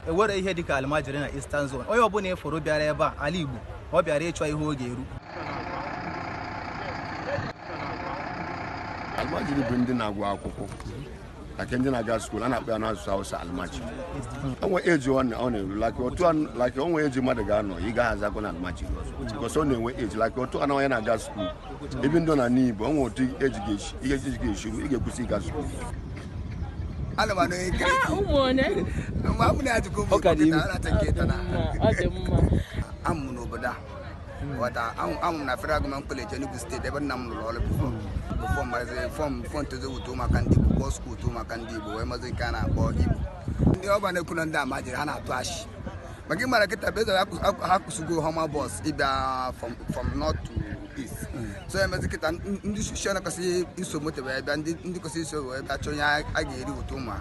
enwere ihe dịka almajiri na Eastern Zone onye ọbụla ị fụrụ bịara ebe a ala Igbo ọ bịara ịchọ ihe ọ ga-eri almajiri bụ ndị na-agụ akwụkwọ like ndị na-aga skuul a na-akpọ ya n'asụsụ Hausa almajiri o nwe age ọ na-eru like otu like o nwe age mmadụ ga-anọ ị gaghị azakwa na almajiri ọzọ because ọ na-enwe age like otu anọ onye na-aga skuul even though na n'Igbo o nwe otu age ga-esi ru ị ga-akwụsị ịga skuul amụ n'obodo a ghọta amụ na Federal Government College Enugu State ebe nna m lụrụ ọrụ before bụ fọm marazị fọm fọ ntozo wuto maka ndị Igbo but skuul wuto maka ndị Igbo wee mazị nke a na-akpọ Igbo ndị ọba na-ekwu na ndị almajiri ha na-atụ achị maka ị mara kịta bụ ezara ha kwụsịgo Hummer bus ịbịa from north to east so emezi kịta ndị soshal kwesịrị iso moto wee bịa ndị kwesịrị iso wee bịa chọọ ihe ha ga-eri ụtụ ụmụ ha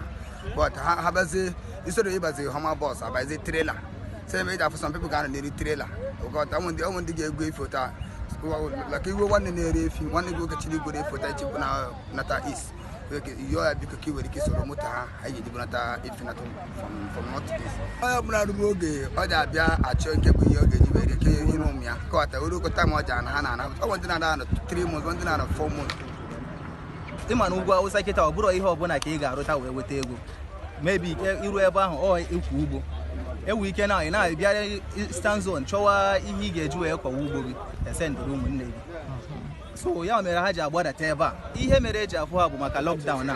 but ha bazie isoro ịbazi Hummer bus abazie trailer so ihe mere eji afụ some people ga-anọ n'elu trailer ụkọta ụmụ ndị ụmụ ndị ga-ebu efi ụta maka i nwee nwanne na-ere efi nwanne gị nwoke chiri igwere efi ụta ichekwu na nata east yọọ ya biko ka ị nwere ike soro moto ha anyị ga-eji bunata efi nata from north east onye ọbụla nwere oge ọ ji abịa achọ nke bụ ihe ọ ga-eji were ike ihe ụmụ ya kọwata were okọta ma ọ ji ana ha na-ana ọ bụ ndị na-anọ 3 months ndị na-anọ 4 months ị ma na ugwu Awụsa kịta ọ bụrụ ihe ọbụla ka ị ga-arụta wee weta ego maybe i ru ebe ahụ ọ ịkọ ugbo i nwere ike na ị na-abịa Eastern Zone chọwa ihe ị ga-eji wee kọwa ugbo gị esendịrị ụmụnne gị so ya mere ha ji agbadata ebe a ihe mere eji afụ ha bụ maka lockdown a